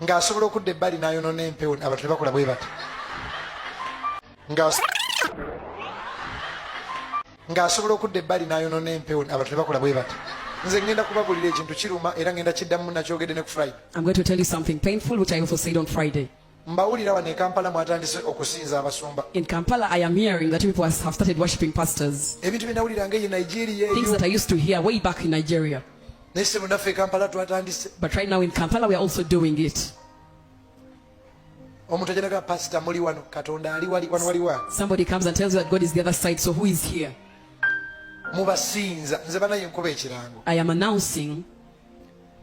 ng'asobola okudda ebbali n'ayonona empewo abantu ne bakola bwe bati ng'asobola okudda ebbali n'ayonona empewo abantu ne bakola bwe bati nze ngenda kubabulira ekintu kiruma era ngenda kiddamu nakyogedde ne ku friday mbawulira wano ekampala mwatandise okusinza abasumba in kampala i am hearing that people have started worshiping pastors ebintu bye nawuliranga eyo nigeria things that i used to hear way back in nigeria Naye sebo naffe Kampala twatandise. But right now in Kampala we are also doing it. Omuntu ajanaga pastor muli wano Katonda ali wali wano wali wa. Somebody comes and tells you that God is the other side so who is here? Mubasinza nze banaye nkuba ekirango. I am announcing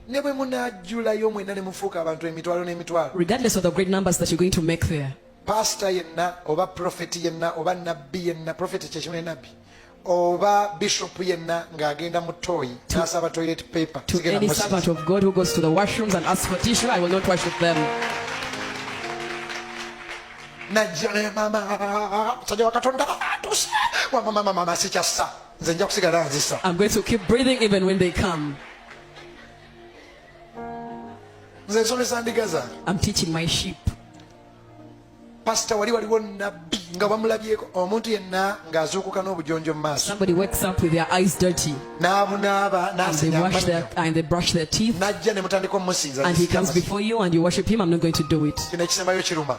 ne bwe munajjulayo mwena ne mufuuka abantu emitwalo n'emitwalo. Regardless of the great numbers that you're going to make there. Pastor yenna oba prophet yenna oba nabbi yenna prophet kyekimu ne nabbi. oba bishop yenna ng'agenda mu toyi n'asaba toilet paper to any servant of god who goes to the washrooms and asks for tissue i will not worship them najja naye mama musajja wa katonda atuse wamamamamama sikyassa nze nja kusigala nzisa i'm going to keep breathing even when they come nze nsomesa ndiga zange i'm teaching my sheep pasita wali waliwo nabbi nga bamulabyeko omuntu yenna ng'azuukuka n'obujonjo mu maaso n'abunaaba n'ajja ne mutandika omusinzakino ekisembayo kiruma